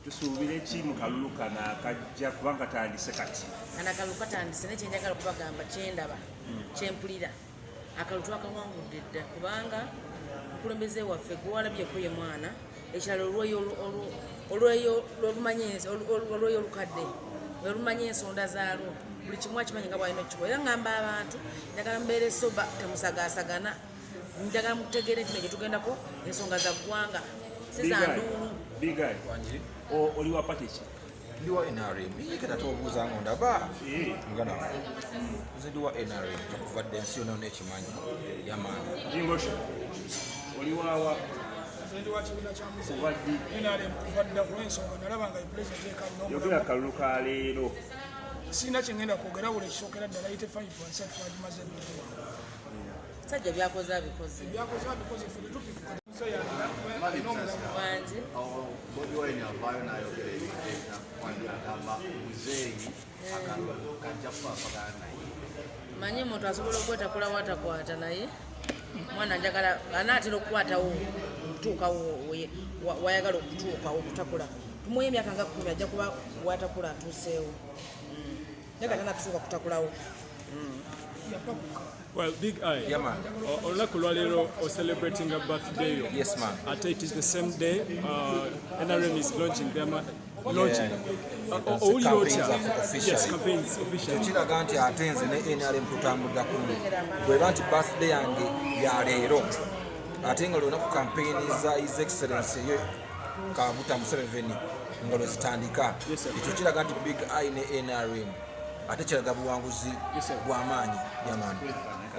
tusuubire ki mu kalulu kano akajja kuba nga tandise kati kana kalulu katandise naye kyenjagala okubagamba kyendaba hmm. kyempulira akalulu twakawangudde dda kubanga mukulembeze waffe gwewalabyeko ye mwana ekirala olweyo olukadde olumanya ensonda zaalwo buli kimu akimanyi nga bwalina okukikola era ngamba abantu njagala mubeere soba temusagasagana njagala mutegeere nti nejetugendako ensonga za ggwanga sizanduulu oli wa pati ki ndi wa nrm kata tobuuza ngo ndaba eh. mugana wange nze ndi wa nrm okuva dda ensi yona nekimanyi yamaani oli wawa yogera kalulu ka leero sirina kyengenda kwogera wula ekisokera ddala yite 5 wansi atuwagimaze Sajja byakoze abikoze. Byakoze abikoze ffe tetupikuka. Wangi. Bobi Wine avaayo n'ayogera ebigenda kwanira agamba muzeeyi akalulu kajja kufa apagana naye. Manyi omuntu asobola okwetakula watakwata naye mwana njagala anaatera okukwatawo okutuukawo wayagala okutuukawo okutakula tumuwa emyaka nga kkumi ajja kuba watakula atuuseewo Well, Big Eye. Yeah, man. Olunaku lwaleero o celebrating a birthday yo. Yes, man. Ate it is the same day uh, NRM is launching their launching. Yeah. Uh, owulira otya? Yes, campaigns official. Kiraga nti ate nze ne NRM tutambulira kumu. Bweba nti birthday yange ya leero. Ate nga lunaku campaign za His Excellency kabuta museveni nga lwezitandika ekyo kiraga nti big i ne nrm ate kiraga buwanguzi bwamaanyi yamani